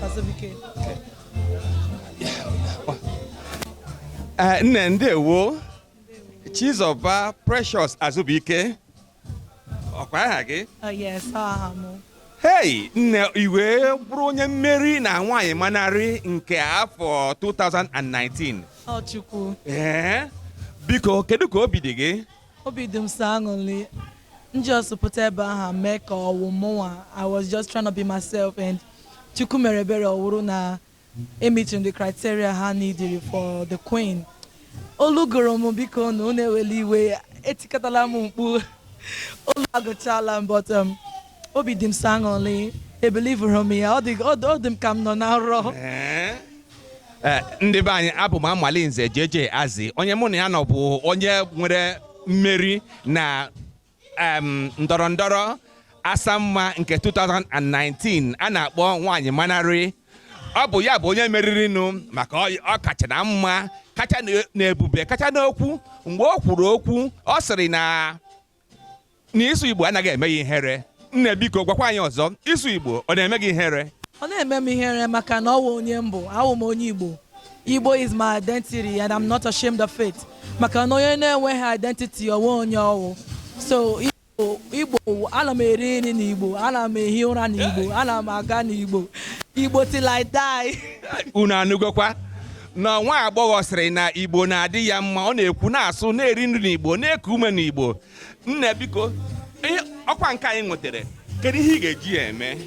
Azubike. Eh, nne ndewo Chizọba Precious Azubike ọkwa aha gị Oh yes, ọ aha mụ. hei nne i wee bụrụ onye mmeri na nwaanyị manarị nke afọ 2019 Ọ Chukwu. ee biko kedu ka obi dị gị obi dị m sọ aṅụrị m just pụta ebe ahụ mee ka ọ wụ mụnwa i was just trying to be myself and chukwu mere ebere ọ wụrụ na m meeting the criteria ha needed for the queen olu gụrụ m biko na unu ewela iwe etikatala m mkpu olu agụchala m but um, obi dị m sọ aṅụrị ebelieverọ m ya ọ dị ọ dị- ọ dị m ka m nọ na nrọ Eh, ndị be anyị abụ m Amalinze JJ Azi onye mụ na ya nọ bụ onye nwere mmeri na ndọrọ ndọrọ asamma nke 2019 a na-akpọ nwaanyị manarị ọ bụ ya bụ onye meririnụ maka ọ kacha na mma kacha na ebube kacha n'okwu mgbe o kwuru okwu ọ sịrị na na ịsụ Igbo anaghị eme ya ihere nne biko gwakwa anyị ọzọ ịsụ Igbo ọ na-eme gị ihere ọ naghị eme m ihere maka na ọ wụ onye m bụ awụ m onye Igbo Igbo is my identity and I'm not ashamed of it maka na onye na-enweghị identity o nweghị onye ọ wụ so Igbo ana m eri nri n'Igbo ana m ehi ụra n'Igbo ana m aga n'Igbo Igbo till I die unu anụgokwa na nwa agbọghọ sịrị na igbo na-adị ya mma ọ na-ekwu na-asụ na-eri nri n'igbo na-eku ume n'igbo nne biko ọkwa nke a ị nwetara kedu ihe ị ga-eji ya eme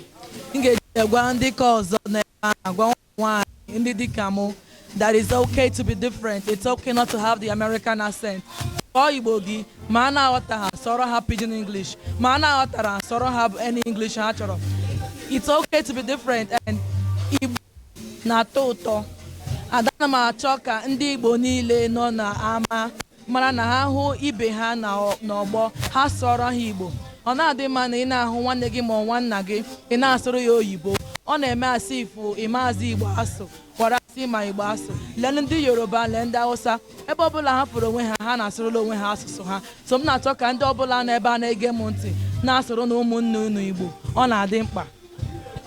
m ga-eji ya gwa ndị ka ọzọ n'ebe a agwa ụmụ nwaanyị ndị dịka mụ that it's okay to be different it's okay not to have the American accent sụọ igbo gị ma a na-aghọta ha sụọrọ ha pidgin English ma a na-aghọtara ha sụọrọ ha any English ha chọrọ it's okay to be different and igbo na-atọ ụtọ. And ana m achọ ka ndị Igbo niile nọ n'ama mara na ha hụ ibe ha n'ọgbọ, ha sụọrọ ha Igbo. Ọ naghị adị mma na ị na-ahụ nwanne gị ma ọ nwanna gị, ị na-asụrụ ya oyibo. Ọ na-eme as if ị maazị Igbo asụ, whereas ị ma Igbo asụ. Lee ndị Yoruba, lee ndị Hausa, ebe ọbụla ha fụrụ onwe ha, ha na-asụrụla onwe ha asụsụ ha. So m na-achọ ka ndị ọbụla nọ ebe a na-ege m ntị na-asụrụnụ ụmụnne unu Igbo. Ọ na-adị mkpa.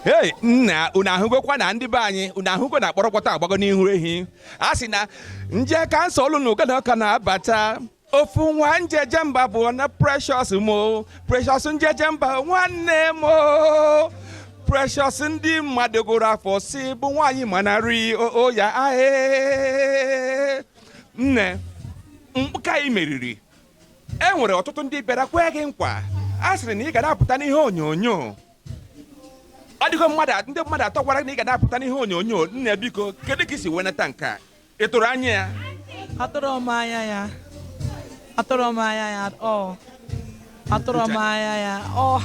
hei nna unu ahụgokwa na ndị be anyị unu ahụgo na kpọrọkpọta agbago n'ihu ehi a sị na nje kansa olu na ụgana ọka na-abata ofu nwa njeje mba bụ na precious m o precious njeje mba nwanne m o precious ndị mmadụ gụrụ afọ sị bụ nwaanyị manarị oya ahee nne mkpụka ị meriri e nwere ọtụtụ ndị bịara kwee gị nkwa a sịrị na ị ga na-apụta n'ihe onyonyo ọ dịgo mmadụ ndị mmadụ atọ gwara na ị ga na-apụta n'ihe onyonyo nne biko kedu ka i si wenata nke a ị tụrụ anya ya atụrụ m anya ya atụrụ m anya ya ọ atụrụ m anya ya ọ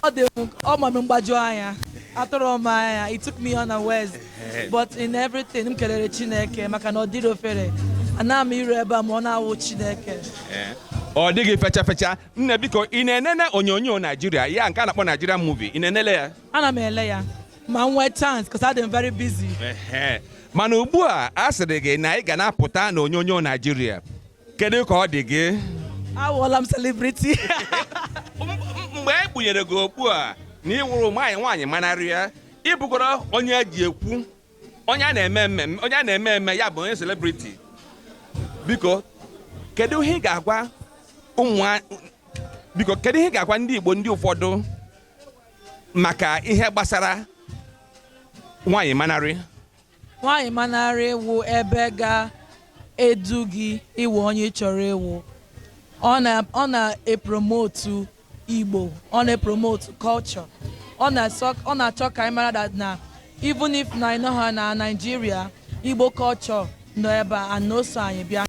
ọ dị m ọ ma m mgbaju anya atụrọ m anya it took me unawares but in everything m kelere chineke maka na ọ dịrọ ofere ana m iru ebe a ma ọ na-awụ chineke ọ dịghị fecha fecha nne biko ị na-enene onyonyo naijiria ya nke a na-akpọ Nigerian movie ị na-enele ya ana m ele ya ma m nwee chance because adị m very busy Ehe. mana ugbu a a sịrị gị na ị ga na-apụta na onyonyo naijiria kedu ka ọ dị gị awụọla m celebrity mgbe e kpunyere gị okpu a na ị wụrụ nwaanyị nwaanyị manarịa ị bụgoro onye e ji ekwu onye a na-eme eme onye a na-eme eme ya bụ onye celebrity biko kedu ihe ị ga-agwa ụmụ biko kedu ihe ị ga-agwa ndị Igbo ndị ụfọdụ maka ihe gbasara nwaanyị manarị Nwaanyị manarị wụ ebe ga-edu gị ịwụ onye ị chọrọ ịwụ. Ọ na ọ na-epromotu Igbo, ọ na-epromotu culture. Ọ na-asọ ọ na-achọ ka anyị mara that na even if na anyị nọghị na Naịjirịa, Igbo culture nọ ebe a and na o so anyị bịa.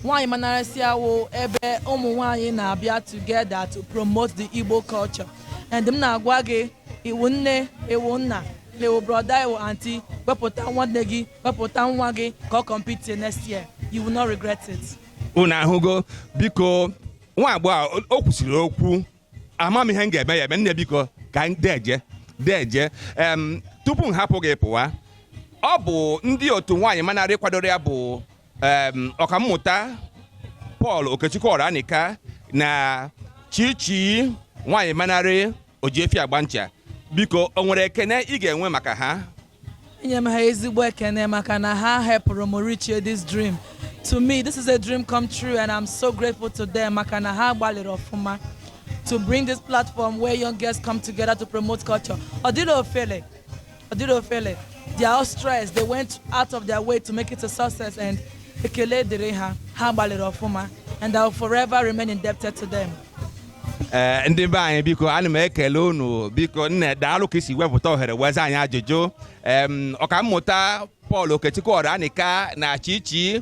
Nwaanyị Manarịsịa wụ ebe ụmụ nwaanyị na-abịa together to promote the Igbo culture and m na-agwa gị ị wụ nne ị wụ nna ị wụ brother ị wụ auntie wepụta nwanne gị wepụta nwa gị ka ọ compete next year you will not regret it. unu ahụgo biko nwa agbọghọ a, o- o kwusiri okwu ama m ihe m ga-eme ya eme nne biko ka m deje deje em tupu m hapụ gị pụwa ọ bụ ndị otu nwaanyị manarị kwadoro ya bụ ọkammụta Paul Okechukwu Oranika na Chichi nwaanyị manarị Ojiefi Agbancha biko o nwere ekene ị ga-enwe maka ha enye m ha ezigbo ekene maka na ha helpụrụ m reachie this dream to me this is a dream come true and I'm so grateful to them maka na ha gbalịrị ọfụma to bring this platform where young girls come together to promote culture. Ọ dịrọ ofele, Ọ dịrọ ofele. They are all stressed. They went out of their way to make it a success and ekele dịrị ha. Ha gbalịrị ọfụma and I will forever remain indebted to them. ee ndị be anyị biko ana m ekele unu biko nne daalụ ka i si wepụta ohere wee zaa anyị ajụjụ em ọkammụta Paul Okechukwu Oranika na Chichi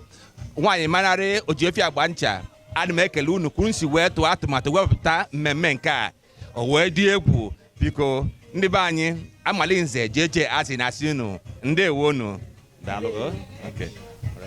nwaanyị manarị Ojiefi Agbancha ana m ekele unu ka unu si wee tụọ atụmatụ wepụta mmemme nke a o wee dị egwu biko ndị be anyị Amalinze JJ asị na-asị unu ndewonu daalụ okay